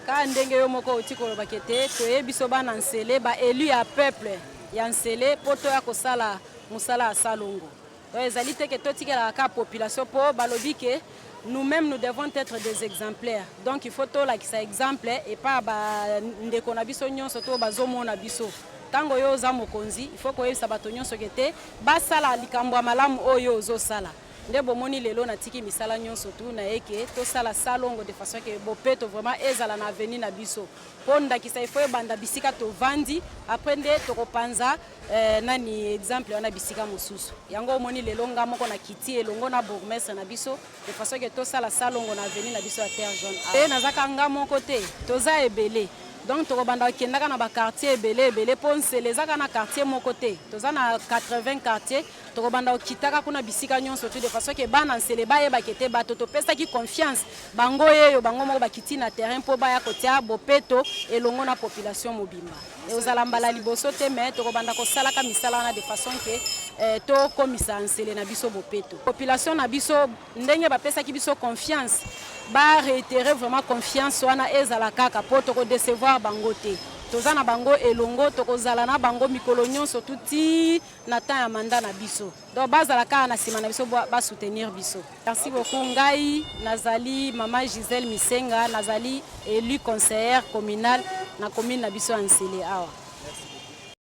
Kaka ndenge yo moko oti koloba ke te toye biso bana Nsele ba elu ya peuple ya Nsele mpo toya kosala mosala ya salongo. Donc ezali te ke totikelaka kaka population mpo balobi ke nous-mêmes nous devons être des exemplaires. Donc il faut tolakisa exemple epa ya bandeko na biso nyonso to bazomona biso. Ntango yo oza mokonzi, il faut koyebisa bato nyonso ke te basala likambo ya malamu oyo yo ozosala. nde bomoni lelo natiki misala nyonso tu na ye ke tosala salongo de façon ke bopeto vraiment ezala na avenue na biso mpo ndakisa ifo ebanda bisika tovandi après nde tokopanza eh, nani exemple wana bisika mosusu yango omoni lelo nga moko na kiti elongo na bourgmestre na biso de façon ke tosala salongo na avenue na biso ya terre jaune e nazaka nga moko te toza ebele donc tokobanda kokendaka na baquartier ebele ebele mpo nsele ezaka na quartier moko te toza na 80 quartier Tokobanda kokitaka kuna bisika nyonso tu de façon ke bana nsele bayeba ke te bato topesaki confiance bango yeyo bango moko bakiti na terrain mpo baya kotia bopeto elongo na population mobimba. Ekozala mbala liboso te mais tokobanda kosalaka misala wana de façon ke eh, tokomisa nsele na biso bopeto. Population na biso ndenge bapesaki biso confiance ba réitérer vraiment confiance wana ezala kaka mpo tokodecevoir bango te. Toza na bango elongo, tokozala na bango mikolo nyonso tuti na temps ya mandat na biso donc bazala kaka na sima na biso ba soutenir biso merci beaucoup ngai nazali mama Gisèle Misenga nazali élu conseillère communale na commune na biso ya Nsele awa